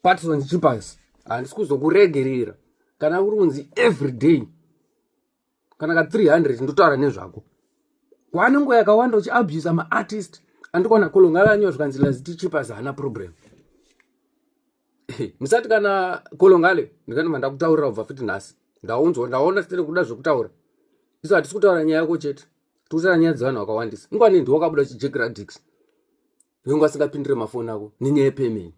patson chipas handisi kuzokuregerera kana uri kunzi every day kana ka 300 ndotaura nezvako kwane nguva yakawanda uchiabusa maartist andikwana kolongalanyiwa zvikanzi laziti chipas haana problem musati kana kolongale ndikati mandakutaurira kubva futi nhasi ndaunzwa ndaona sitene kuda zvekutaura isu hatisi kutaura nyaya yako chete tikutaura nyaya dzevanhu vakawandisa ingwani ndiwo kabuda chijekradix vengu asingapindire mafoni ako nenyaya yepayment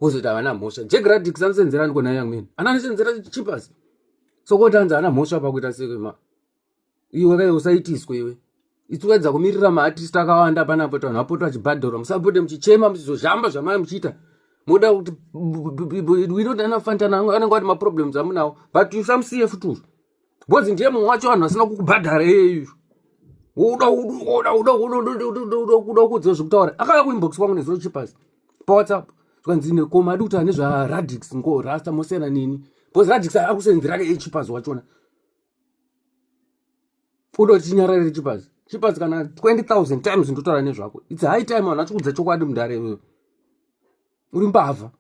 wozoti havana mhosva jack radix anosenzera niko naye amene ana anosenzera chipas so koti anzi ana mhosva pakuita sekema iwe kaye usaitiswe iwe itsukaidza kumirira maartist akawanda panapo tanhu apoto achibhadharwa musapote muchichema muchizozhamba zvamai muchiita moda kuti we don't anafantana anenge ati maproblems amunawo but you some cf too Because ndiye mumwe wacho vanhu vasina kukubhadhara iyeyu. Uda uda uda uda uda kuudza zvekutaura. Akauya kuinbox kwangu nezuro chipasi paWhatsApp. Zvikanzi nekoma adi kutaura nezvaRadix ngo Rasta mosiyana nini. Because Radix akusenzera ke chipasi wachona. Uda kuti tinyarare chipasi. Chipasi kana 20,000 times ndotaura nezvako. It's high time vanhu vachikudza chokwadi mudare iwewe. Uri mbavha.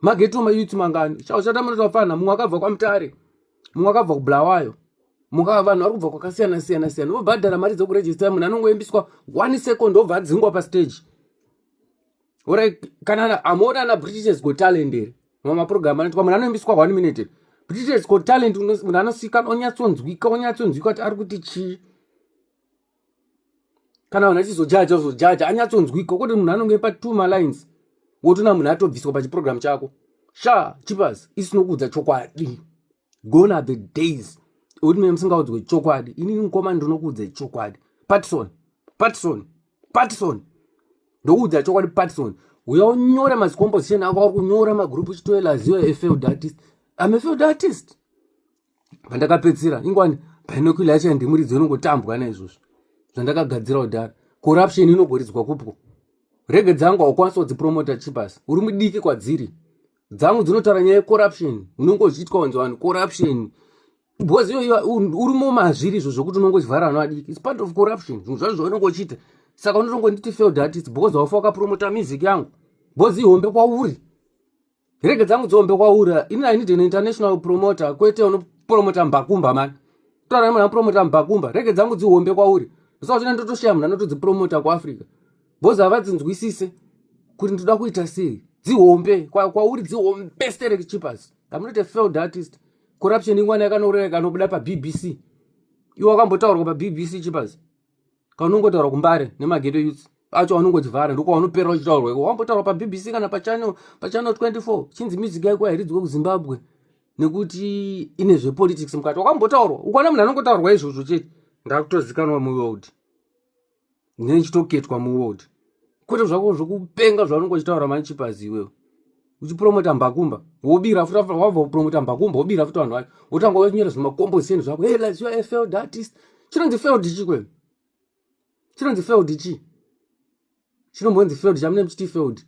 mageto mayuti mangani chauchatamunoto vafana mumwe akabva kwamutare mumwe akabva kubulawayo muka vanhu vari kubva kwakasiyana siyana siyana vobhadhara mari dzekurejista munhu anongoimbiswa one second obva adzingwa pastage orai kana hamuona ana british go talent ere mamaprogram anoitwa munhu anoimbiswa one minute british go talent munhu anosika onyatsonzwika onyatsonzwika kuti ari kuti chii kana vanhu achizojaja uzojaja anyatsonzwika kwete munhu anonge patwo malines wotona munhu atobviswa pachiprogramu chako sha chipas isinokuudza chokwadi gone are the days ekuti mine musingaudzwe chokwadi inini mukoma ndinokuudza chokwadi patison patison patison ndokuudza chokwadi patison uya unyore mazicomposition ako ari kunyora magroup uchitoelaziyo efield artist ame field artist pandakapedzisira ingwani binocular yacho yandimuridzi inongotambwa naizvozvo zvandakagadzira kudhara corruption inogoridzwa kupwo rege dzangu haukwanisa kudzipromota chipasi uri mudiki kwadziri dzangu dzinotaura nyaya yecorruption unenge uchiitwa kunzi vanhu corruption because iyoyo uri mumazviri izvo zvokuti unongo chivhara vana vadiki its part of corruption zvinhu zvacho zvaunenge uchiita saka unotongo nditi failed artist because haufa wakapromota music yangu because ihombe kwauri Rege dzangu dzombe kwaura. Ini I need an international promoter kwete uno promoter mbakumba man. Tora mwana promoter mbakumba. Rege dzangu dzihombe kwauri. Saka zvino ndotoshaya mwana notodzi promoter kwa Africa. Boza havadzinzwisise kuti ndoda kuita sei. Dzihombe kwa kwauri dzihombe sterek chipas. I'm not a failed artist. Corruption ingwana yakanoureka nobuda pa BBC. Iwe wakambotaurwa pa BBC chipas. kaunongotaura kumbare nemageto youth acho anongotivhara ndokwaunopera uchitaurwa iko wambotaura pabbc kana pachannel pachannel 24 chinzi music yako hairidzwe kuzimbabwe nekuti ine zvepolitics mukati wakambotaurwa ukaona munhu anongotaurwa izvozvo chete ndakutozikanwa muworld ndine ndichitoketwa muworld kwete zvako zvokupenga zvaunongochitaura manchipazi iwewo uchipromota mbakumba wobira futi wabva kupromota mbakumba wobira futi vanhu vacho wotanga wonyora zvemakomboseni zvako hey let's your failed artist chinonzi failed chi kwenu chinonzi failed chi chinombonzi failed chamune muchiti failed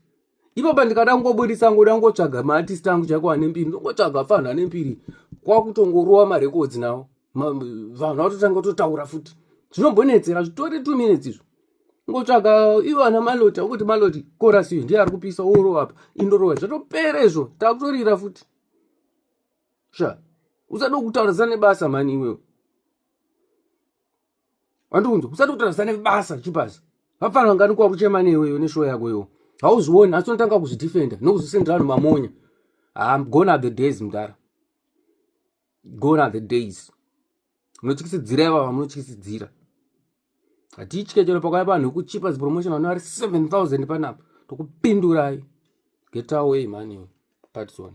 ipapa ndikada kungobudisa ngoda kungotsvaga maartist angu chaiko ane mbiri ndongotsvaga fanhu ane mbiri kwakutongorowa marekodzi nawo vanhu vatotanga totaura futi zvinombonetsera zvitori two minutes izvo ngotsvaga ivo ana maloti akuti maloti korasi iyo ndiye ari kupisa worova apa indorova zvatopera izvo takutorira futi sha usada kutaurisa nebasa mani iwewe wandikunzi usada kutaurisa nebasa chipasi vapfana vangani kuwa kuchema neiweyo neshowo yako iwo hauzvioni asi unotanga kuzvidefenda nokuzvisendera vanhu mamonya ha ah, gone are the days mudara gone are the days munotyisidzira ivava vamunotyisidzira hatitye chero pakauya vanhu vekuchipa zipromotion vano vari 7000 panapa tokupindurai get away mani patson